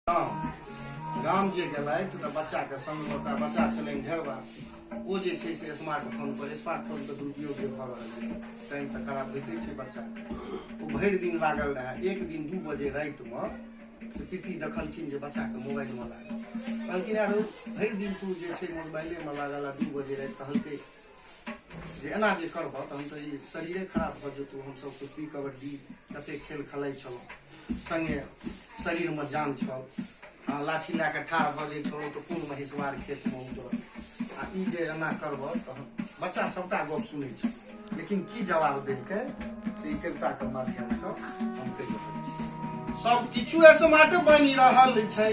गाम गाम जे गेलथि तऽ बच्चाके संग ओकरा बच्चा छलनि ढेरबा ओ जे छै से स्मार्टफोन पर स्मार्टफोन के दुरुपयोग जे भऽ रहल छै टाइम तऽ खराब होइते छै बच्चा ओ भरि दिन लागल रहए एक दिन दू बजे रातिमे से पीती देखलखिन जे बच्चाके मोबाइलमे लागल कहलखिन यार भरि दिन तू जे छै मोबाइलेमे लागल आ दू बजे राति कहलकै जे एना जे करबह तहन तऽ ई शरीरे खराब भऽ जेतौ हमसभ कुश्ती कबड्डी कतेक खेल खेलाइ छलहुँ सङ्गे शरीरमे जान छल आ लाठी लए कऽ ठाढ़ भऽ जाइ छलहुँ तऽ कोन महेशवार खेतमे उतर आ ई जे एना करबह तहन बच्चा सभटा गप सुनै छै लेकिन की जवाब देलकै से ई कविताके माध्यमसँ हम कहि रहल छी सभ किछु स्मार्ट बनि रहल छै